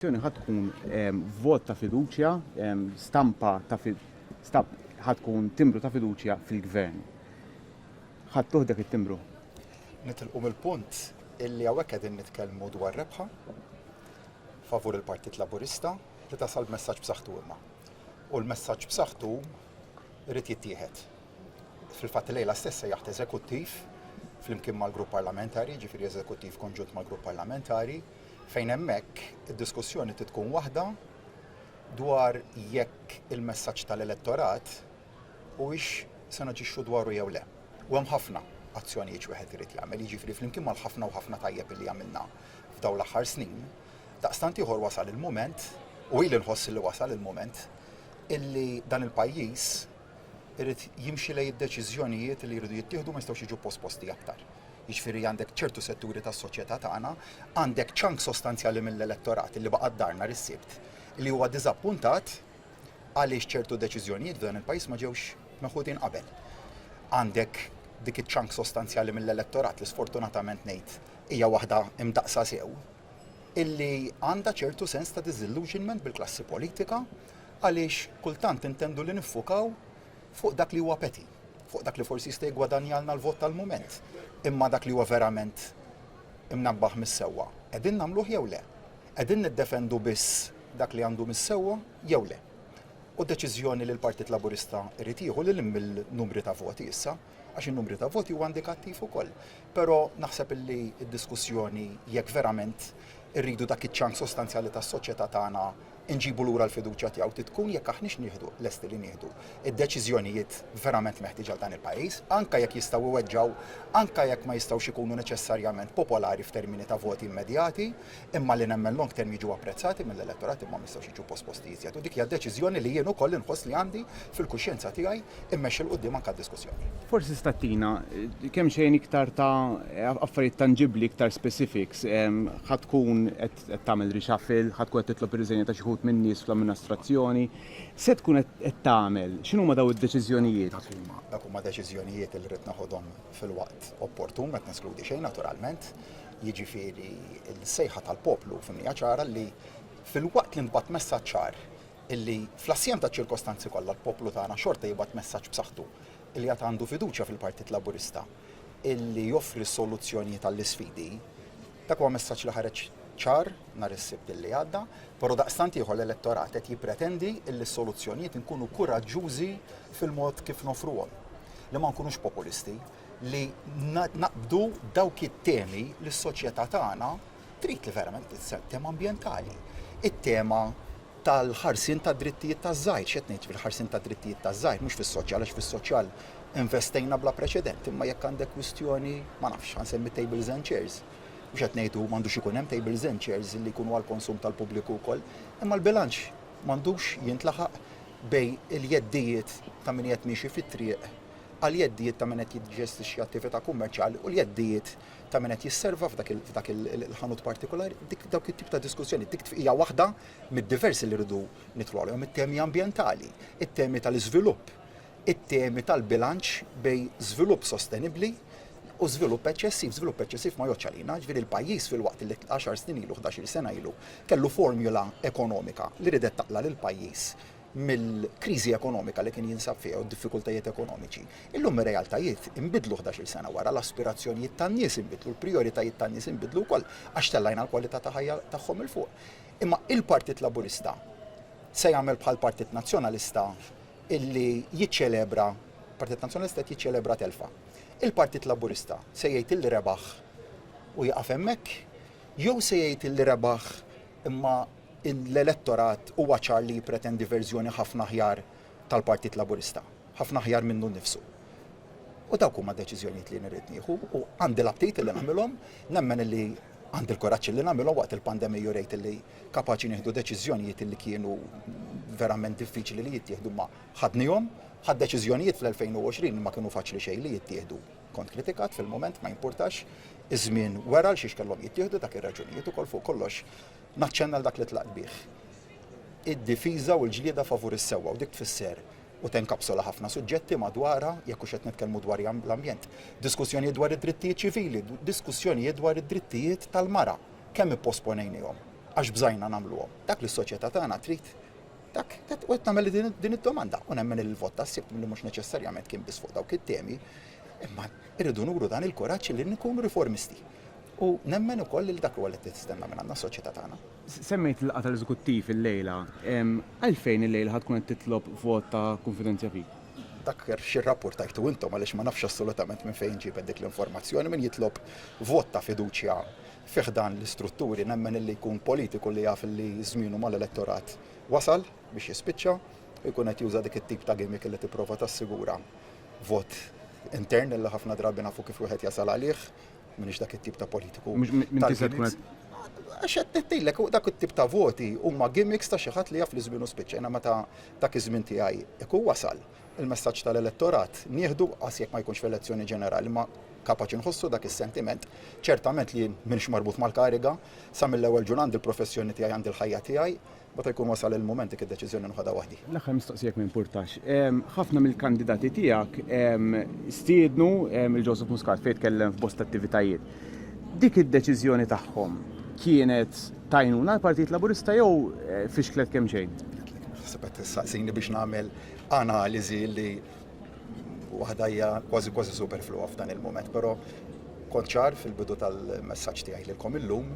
Il-votazzjoni ħa tkun vot ta' fiduċja, stampa ta' ħa tkun timbru ta' fiduċja fil-Gvern. Ħadtuh dak it-timbru? Nitilqu mill-punt illi hawnhekk qegħdin nitkellmu dwar rebħa favur il-Partit Laburista li tasal b'messaġġ b'saħħtu imma. U l-messaġġ b'saħħtu jrid jittieħed. Fil-fatt lejla stess se jaħt eżekuttiv flimkien mal-grupp parlamentari, ġifieri eżekuttiv konġunt mal-grupp parlamentari, Fejn hemmhekk id-diskussjoni trid tkun waħda dwar jekk il-messaġġ tal-elettorat huwiex se naġixxu dwaru jew le. U hemm ħafna azzjonijiet x'wieħed irid jagħmel, jiġifieri flimkien mal-ħafna u ħafna tajjeb illi għamilna f'dawn l-aħħar snin, daqstant ieħor wasal il-mument, u ili nħoss illi wasal il-mument, illi dan il-pajjiż, irid jimxi lejn id-deċiżjonijiet li jridu jittieħdu ma jistgħux jiġu posposti aktar. Jiġifieri għandek ċertu setturi tas-soċjetà tagħna, għandek ċank sostanzjali mill-elettorat li baqa' d-dar nhar is-Sibt li huwa diżappuntat għaliex ċertu deċiżjonijiet f'dan il-pajjiż ma ġewx meħudin qabel. Għandek dik iċ-ċank sostanzjali mill-elettorat li sfortunatament ngħid hija waħda imdaqsa sew, illi għandha ċertu sens ta' disillusionment bil-klassi politika għaliex kultant intendu li niffukaw fuq dak li huwa peti, fuq dak li forsi jista' jgwadanjalna l-vot tal-mument, imma dak li huwa verament imnabbaħ mis-sewwa, qegħdin nagħmluh jew le? Qegħdin niddefendu biss dak li għandu mis-sewwa jew le? U deċiżjoni li l-Partit Laburista jrid jieħu lil hinn mill-numri ta' voti issa, għax in-numri ta' voti huwa indikattiv ukoll. Però naħseb illi d-diskussjoni jekk verament irridu dak iċ-ċank sostanzjali tas-soċjetà tagħna nġibu lura l-fiduċja tiegħu titkun jekk aħniex nieħdu lesti li nieħdu d-deċiżjonijiet verament meħtieġa għal dan il-pajjiż, anke jekk jistgħu jweġġgħu, anke jekk ma jistgħux ikunu neċessarjament popolari f'termini ta' voti immedjati. imma li nemmen long term jiġu apprezzati mill-elettorat imma ma jistgħux jiġu posposti iżjed. U dik hija deċiżjoni li jien ukoll inħoss li għandi fil-kuxjenza tiegħi immexxi 'l quddiem anke d-diskussjoni. Forsi tista' ttina kemm xejn iktar ta' affarijiet tanġibbli, iktar specifics. Ħa tkun qed tagħmel reshuffle, ħa tkun qed titlob ir-riżenja ta' xi wħud min-nies fl-amminastrazzjoni. X'se tkun qed tagħmel? X'inhuma dawn id-deċiżjonijiet? Dak huma, dak huma deċiżjonijiet li rrid neħodhom fil-waqt opportun, ma qed neskludi xejn naturalment. jiġifieri l-sejħa tal-poplu f'imnija ċara li filwaqt li ntbagħat messaġġ ċar illi fl-assjem taċ-ċirkostanzi kollha l-poplu tagħna xorta jibgħat messaġġ b'saħħtu illi għad għandu fiduċja fil-Partit Laburista illi joffri s-soluzzjonijiet għall-isfidi, dak huwa messaġġ li ħareġ ċar nhar is-Sibt illi għadda, però daqstant ieħor l-elettorat qed jippretendi illi s-soluzzjonijiet inkunu kuraġġużi fil-mod kif noffruhom, li ma nkunux populisti. li naqbdu dawk it-temi li s-soċjetà tagħna trid li verament titsepp tema ambjentali. It-tema tal-ħarsin ta' drittijiet ta' żgħir, xed ngħid fil-ħarsin ta' drittijiet ta' żgħir, mhux fis-soċjal, għax fis-soċjal investejna bla preċedent, imma jekk għandek kwistjoni, ma nafx, ħansemmi tables and chairs, mhux qed ngħidu m'għandux ikun hemm tables and chairs li jkunu għall-konsum tal-pubbliku wkoll, imma l-bilanċ m'għandux jintlaħaq bej il-jeddijiet ta' min qed miexi fit-triq għall-jeddijiet ta' min qed jiġġestixxi attività kummerċjali u l-jeddijiet ta' min qed jisserva f'dak il-ħanut partikolari, dawk it-tip ta' diskussjoni dik hija waħda mid-diversi li rridu nidħlu għalihom it-temi ambjentali, it-temi tal-iżvilupp, it-temi tal-bilanċ bejn żvilupp sostenibbli u żvilupp eċċessiv. Żvilupp eċċessiv ma jgħoddx għalina, ġifieri l-pajjiż filwaqt li għaxar snin ilu, ħdax-il sena ilu, kellu formula ekonomika li ridet taqla' lill-pajjiż mill-kriżi ekonomika li kien jinsab fiha u d-diffikultajiet ekonomiċi. Illum ir-realtajiet inbidlu ħdax-il sena wara, l-aspirazzjonijiet tan-nies inbidlu, l-prijoritajiet tan-nies inbidlu wkoll għax tellajna l-kwalità ta' ħajja tagħhom 'il fuq. Imma il-Partit Laburista se jagħmel bħall-Partit Nazzjonalista illi jiċċelebra, il-Partit Nazzjonalista qed jiċċelebra telfa. Il-Partit Laburista se jgħid illi rebaħ u jieqaf hemmhekk jew se jgħid illi rebaħ imma l-elettorat huwa ċar li jippretendi verżjoni ħafna aħjar tal-Partit Laburista, ħafna aħjar minnu nnifsu. U dawk huma deċiżjonijiet li nirrid nieħu u għandi l-aptit li nagħmilhom, nemmen li għandi l-kuraġġ li nagħmilhom waqt il-pandemija u rejt li kapaċi nieħdu deċiżjonijiet li kienu verament diffiċli li jittieħdu ma ħadnihom, ħad deċiżjonijiet fl-2020 ma kienu faċli xejn li jittieħdu. Kont kritikat fil-moment ma jimpurtax iż-żmien wera l xiex kellhom jittieħdu dak ir-raġunijiet ukoll fuq kollox Naċċenna għal dak li tlaqt bih. Id-difiża u l-ġlieda favur is-sewwa u dik tfisser u tenkapsola ħafna suġġetti madwarha jekk hux qed nitkellmu dwar l-ambjent. Diskussjonijiet dwar id-drittijiet ċivili, diskussjonijiet dwar id-drittijiet tal-mara, kemm ipposponejnihom għax bżajna nagħmluhom. Dak li s-soċjetà tagħna trid dak u qed nagħmel din id-domanda u nemmen il-vot tas-sibt li mhux neċessarjament kien biss fuq dawk it-temi, imma irridu nuru dan il-kuraġġ li nkunu riformisti U nemmen ukoll li dak huwa li qed tistenna minn għandna s-soċjetà tagħna. Semmejt il-laqgħa tal-Eżekuttiv illejla. Għalfejn illejla ħa tkun qed titlob vot ta' kunfidenzja fik? Dak xi rrappurtajtu intom għaliex ma nafx assolutament minn fejn ġibet dik l-informazzjoni. Min jitlob vot ta' fiduċja fi ħdan l-istrutturi nemmen illi jkun politiku li jaf illi żmienu mal-elettorat wasal biex jispiċċa u jkun qed juża dik it-tip ta' gimmick illi tipprova tassigura vot intern illi ħafna drabi nafu kif wieħed jasal għalih. Minix dak it-tip ta' politiku. Għax qed nittillek dak it-tip ta' voti huma gimmicks ta' xi ħadd li jaf li żmienu spiċċa. Jiena meta dak iż-żmien tiegħi ikun wasal il-messaġġ tal-elettorat nieħdu qas jekk ma jkunx f'elezzjoni ġenerali ma kapaċi nħossu dak is-sentiment, ċertament li minx marbut mal-kariga, sa mill-ewwel ġur għandi l-professjoni tiegħi għandi l-ħajja tiegħi, Meta jkun wasal il-mument dik id-deċiżjoni nħodha waħdi. L-aħħar mistoqsija jekk ma jimpurtax. Ħafna mill-kandidati tiegħek stiednu lil Joseph Muscat fejn tkellem f'bosta attivitajiet. Dik id-deċiżjoni tagħhom kienet ta' għajnuna għall-Partit Laburista jew fixklet kemxejn? Naħseb qed tistaqsini biex nagħmel analiżi li waħda hija kważi kważi superfluwa f'dan il-mument, però kont ċar fil-bidu tal-messaġġ tiegħi lilkom illum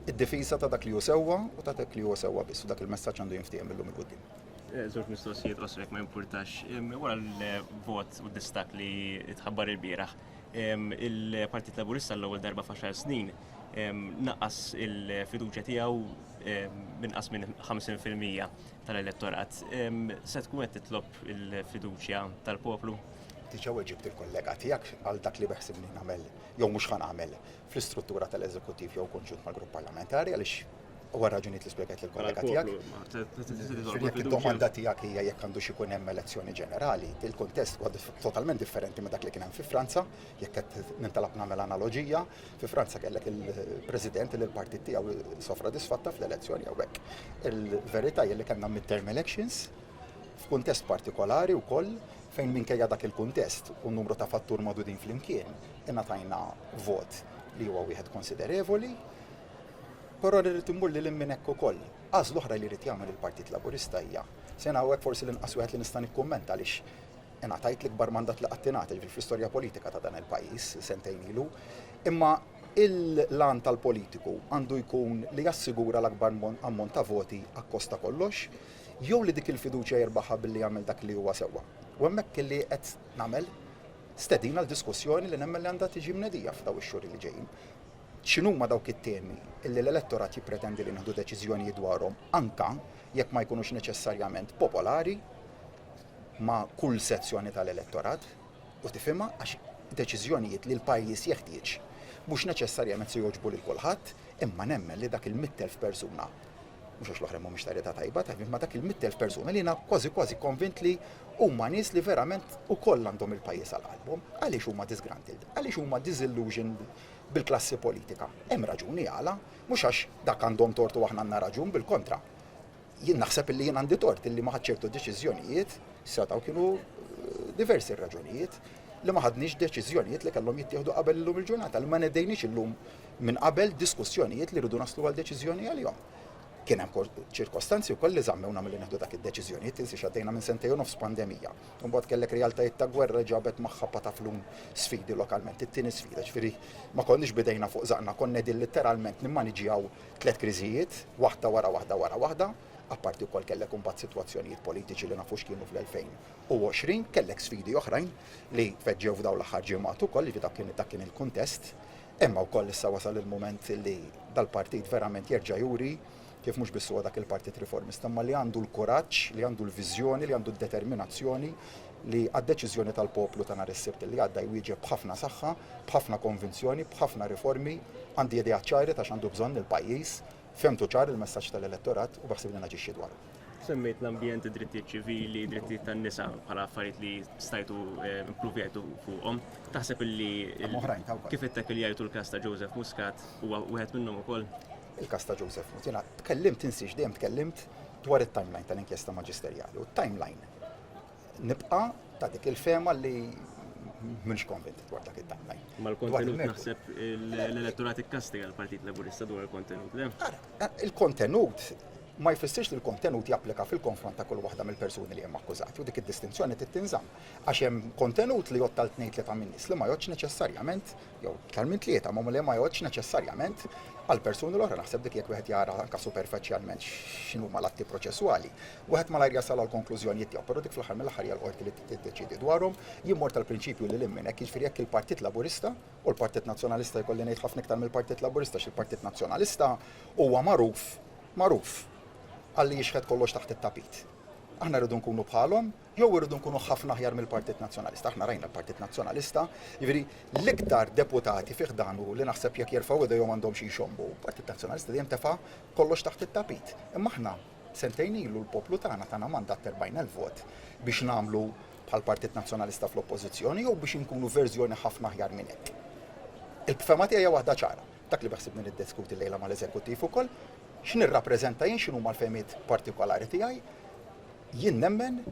Id-difiża ta' dak li hu sewwa u ta' dak li huwa sewwa biss, u dak il-messaġġ għandu jinftiehem mil-lum 'il quddiem. Żewġ mistoqsijiet qosra jekk ma jimpurtax. Wara l-vot u d-distakk li tħabbar ilbieraħ, il-Partit Laburista għall-ewwel darba f'għaxar snin naqqas il-fiduċja tiegħu b'inqas minn 50 fil-mija tal-elettorat. Se tkun qed titlob il-fiduċja tal-poplu? Diġà weġibt il-kollega tiegħek għal dak li beħsibni nagħmel jew mhux ħa nagħmel fl-istruttura tal-Eżekuttiv jew konġunt mal-Grupp Parlamentari għaliex huwa raġunijiet li spjegat lil kollega tiegħek. Id-domanda tiegħek hija jekk għandux ikun hemm elezzjoni ġenerali, il-kuntest huwa totalment differenti minn dak li kien hemm fi Franza, jekk qed nintalab nagħmel analoġija, fi Franza kellek il-President li l-partit tiegħu sofra disfatta fl-elezzjoni hawnhekk. Il-verità hija li kellna mid-term elections, f'kuntest partikolari wkoll fejn minkejja dak il-kuntest u numru ta' fattur magħdudin flimkien ingħatajna vot li huwa wieħed konsiderevoli. Però li rrid immur lil minn hekk ukoll. Għażla oħra li rrid jagħmel il-Partit Laburista hija se hawnhekk forsi l-inqas wieħed li nista' nikkummenta għaliex ingħatajt l-ikbar mandat li qatt ingħata ġifieri fl-istorja politika ta' dan il-pajjiż sentejn ilu. Imma il-lan tal-politiku għandu jkun li jassigura l-akbar ammont ta' voti akkost ta' kollox. jew li dik il-fiduċja jirbaħha billi jagħmel dak li huwa sewwa. U hemmhekk li qed nagħmel stedina l-diskussjoni li nemmen li għandha tiġi mnedija f'daw ix-xhur li ġejjin. X'inhuma dawk it-temi illi l-elettorat jippretendi li nieħdu deċiżjonijiet dwarhom anka jekk ma jkunux neċessarjament popolari ma' kull sezzjoni tal-elettorat u tifhimha għax deċiżjonijiet li l-pajjiż jeħtieġ mhux neċessarjament se jogħġbu lil kulħadd, imma nemmen li dak il-mittelf persuna mhux għax l-oħrajn mhumiex ta' età tajba, ta' ma' dak il-100,000 persuna li jiena kważi kważi konvint li huma nies li verament ukoll għandhom il-pajjiż għal qalbhom. Għaliex huma disgruntled? Għaliex huma disillusioned bil-klassi politika? Hemm raġuni għala, mhux għax dak għandhom tort u aħna għandna raġun, bil-kontra. Jien naħseb illi jien għandi tort illi ma ħadt ċertu deċiżjonijiet, setgħu kienu diversi r-raġunijiet, li ma ħadniex deċiżjonijiet li kellhom jittieħdu qabel illum il-ġurnata, li ma nedejniex illum minn qabel diskussjonijiet li rridu naslu għal deċiżjoni għalihom. Kien hemm ċirkostanzi wkoll li żammewna milli neħdu dak id-deċiżjonijiet tinsi xaddejna minn sentejn u nofs pandemija. Imbagħad kellek realtajiet ta' gwerra ġabet magħha pataflun sfidi lokalment. It-tieni sfida, ġifieri ma konniex bidejna fuq żaqna, konna din litteralment nimmaniġjaw tliet kriżijiet, waħda wara waħda wara waħda, apparti wkoll kellek imbagħad sitwazzjonijiet politiċi li nafu x'kienu fl-2020, kellek sfidi oħrajn li tfeġġew f'dawn l-aħħar ġimgħat ukoll, dak kien il-kuntest Imma wkoll issa wasal il-mument li dal-partit verament jerġa' juri kif mhux biss huwa dak il-Partit Riformista imma li għandu l-kuraġġ, li għandu l-viżjoni, li għandu d-determinazzjoni li għad-deċiżjoni tal-poplu ta' nhar is-Sibt li għadda jwieġeb b'ħafna saħħa, b'ħafna konvinzjoni, b'ħafna riformi, għandi ideat ċari ta' x'għandu bżonn il-pajjiż, Fehmtu ċar il-messaġġ tal-elettorat u beħsiebni naġixxi dwaru. Semmejt l-ambjent, id-drittijiet ċivili, id-drittijiet tan-nisa bħala affarijiet li stajtu eh, impruvjajtu fuqhom. Taħseb illi kif ittek li jgħidu l-każ ta' Joseph Muscat huwa wieħed minnhom ukoll? Il-każ ta' Joseph Muscat, tkellimt insiex dejjem tkellimt dwar it-timeline tal-inkjesta maġisterjali u t-timeline Nibqa' ta' dik il-fema li mhux konvint dwar dak id-daħħaj. Mal-kontenut naħseb l-elettorat ikkastiga l-Partit Laburista dwar il-kontenut, le? Il-kontenut ma jfissirx li l-kontenut japplika fil-konfront ta' kull waħda mill-persuni li hemm akkużati u dik id-distinzjoni trid tinżamm. Għax hemm kontenut li jottal tnejn tlieta minn nies li ma jgħodx neċessarjament jew iktar minn tlieta ma li ma jgħodx neċessarjament għal persuni l-oħra naħseb dik jekk wieħed jara anke superfiċjalment x'inhuma l-atti proċesswali. Wieħed malajr jasal għall-konklużjonijiet tiegħu, però dik fl-aħħar mill-aħħar hija l-Qorti li tiddeċiedi dwarhom. Jien mort għall-prinċipju lil hinn minn hekk, jiġifieri jekk il-Partit Laburista, u l-Partit Nazzjonalista jkolli ngħid ħafna iktar mill-Partit Laburista għax il-Partit Nazzjonalista huwa magħruf, magħruf, għalli jixħet kollox taħt it-tapit. Aħna rridu nkunu bħalhom jew irridu nkunu ħafna aħjar mill-Partit Nazzjonalista. Aħna rajna l-Partit Nazzjonalista, jiġifieri l-iktar deputati fih dan li naħseb jekk jerfgħu idejhom għandhom xi jxommu. Partit Nazzjonalista dejjem tefa' kollox taħt it-tapit. Imma aħna Sentejn ilu l-poplu tagħna tana mandat ta' 40,000 vot biex nagħmlu bħall-Partit Nazzjonalista fl-Oppożizzjoni jew biex inkunu verżjoni ħafna aħjar minn hekk. Il-fehma tiegħi hija waħda ċara, dak li beħsibni niddiskuti llejla mal-Eżekuttiv ukoll, x'nirrappreżenta jien, x'inhuma l-fehmiet partikolari tiegħi. Jien nemmen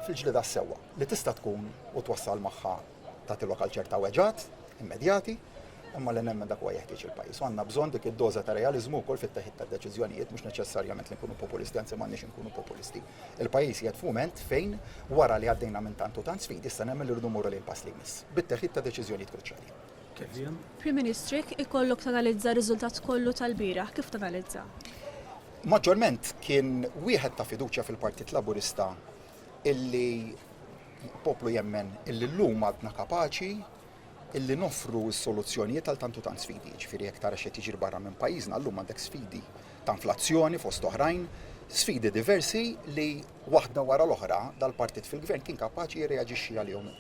fil-ġlieda għas-sewwa, li tista' tkun u twassal magħha tagħtilok għal ċerta weġgħat immedjati, imma li nemmen dak huwa jeħtieġ il-pajjiż. U għandna bżonn dik id-doża ta' realiżmu wkoll fit-teħid tad-deċiżjonijiet, mhux neċessarjament li nkunu populisti, anzi m'għandniex inkunu populisti. Il-pajjiż qiegħed f'mument fejn, wara li għaddejna minn tant u tant sfidi, issa nemmen li rridu mmorru lejn pass li jmiss, bit-teħid ta' deċiżjonijiet kruċjali. Prim Ministru, jekk ikollok tanalizza r-riżultat kollu tal-bieraħ, kif tanalizza? Maġġorment kien wieħed ta' fiduċja fil-Partit Laburista illi l-poplu jemmen illi llum għadna kapaċi illi noffru s-soluzzjonijiet għal tant u tant sfidi. Jiġifieri jekk tara x'qed jiġri barra minn pajjiżna llum għandek sfidi ta' inflazzjoni fost oħrajn, sfidi diversi li waħda wara l-oħra dal-partit fil-Gvern kien kapaċi jirreaġixxi għalihom.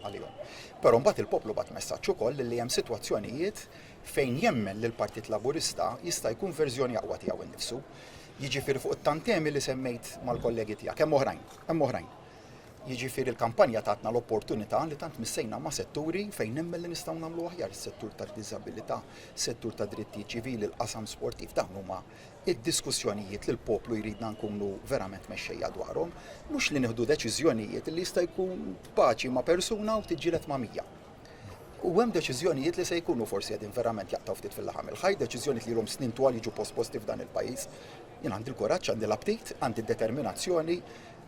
Però mbagħad il-poplu bagħat messaġġ ukoll illi hemm sitwazzjonijiet fejn jemmen li l-Partit Laburista jista' jkun verżjoni aqwa tiegħu innifsu, jiġifieri fuq it-tantemi li semmejt mal-kollegi tiegħek, hemm oħrajn, hemm oħrajn. Jiġifieri l-kampanja tatna l-opportunità li tant missejna ma' setturi fejn nemmen li nistgħu nagħmlu aħjar, is-settur tad-diżabilità, is-settur tad-drittijiet ċivili, il-qasam sportiv, dawn huma d-diskussjonijiet li l-poplu jridna nkunu verament mexxejja dwarhom, mhux li nieħdu deċiżjonijiet li jista' jkun tpaċi ma' persuna u tiġġieled ma' mija. U hemm deċiżjonijiet li se jkunu forsi qegħdin verament jaqtaw ftit fil-laħam il-ħaj, deċiżjonijiet li l snin twal jiġu posposti f'dan il-pajjiż. Jien għandi l-kuraġġ, għandi l-aptit, għandi d-determinazzjoni,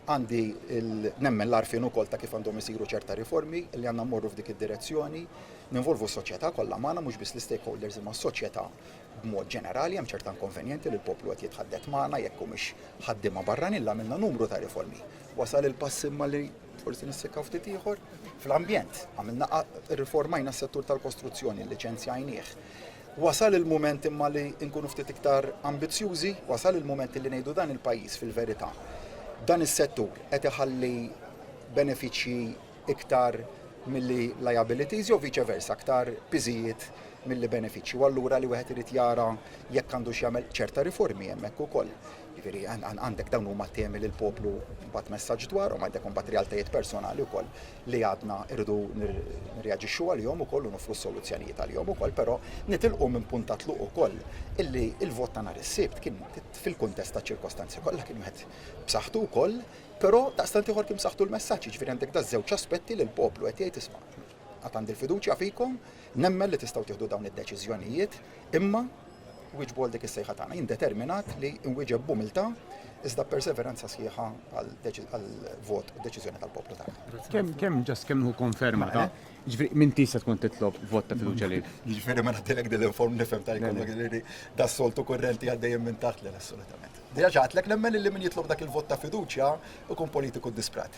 għandi nemmen l-arfin ukoll ta' kif għandhom isiru ċerta riformi li għandna mmorru f'dik id-direzzjoni, ninvolvu s-soċjetà kollha magħna mhux biss l-stakeholders imma s-soċjetà b'mod ġenerali hemm ċerta inkonvenjenti li l-poplu qed jitħaddet magħna jekk humiex ħaddiema barranin l għamilna numru ta' riformi. Wasal il-pass imma li Forsi nissekkaw ftit ieħor fl-ambjent. Għamilna riformajna s-settur tal-kostruzzjoni, liċenzjajnieh. Wasal il-moment imma li nkunu ftit iktar ambizzjużi, wasal il-moment li ngħidu dan il-pajjiż fil-verità. Dan is-settur qed iħalli benefiċċji iktar milli liabilities jew viċe versa, aktar piżijiet milli benefiċċji. U allura li wieħed irid jara jekk għandu x'jagħmel ċerta riformi hemmhekk ukoll. Jiġifieri għandek dawn huma temi li l-poplu bagħat messaġġ dwarhom, għandek imbagħad realtajiet personali wkoll li għadna rridu nirreaġixxu għalihom ukoll u noffru soluzzjonijiet għalihom ukoll, però nitilqu minn punt ta' tluq ukoll illi l-vot ta' nhar is-Sibt kien fil-kuntest taċ-ċirkostanzi kollha kien wieħed b'saħħtu wkoll, però daqstant ieħor kien b'saħħtu l-messaġġ, jiġifieri għandek daż-żewġ aspetti li l-poplu qed jgħid isma', Għad għandi l-fiduċja fikom, nemmen li tistgħu tieħdu dawn id-deċiżjonijiet, imma wieġbu għal dik is-sejħa tagħna. Jien determinat li nwieġeb b'umiltà iżda perseveranza sħiħa għal-vot u deċiżjoni tal-poplu tagħna. Kemm kemm ġas kemm hu konferma ta' ġifri minn tisa tkun titlob vot ta' fiduċa li. Ġifri ma nagħtilek din l-inform nifhem ta' jkollok li da soltu kurrenti għaddejjem minn taħt l assolutament. Diġà ġatlek nemmen li min jitlob dak il-vot ta' fiduċja ikun politiku disprat.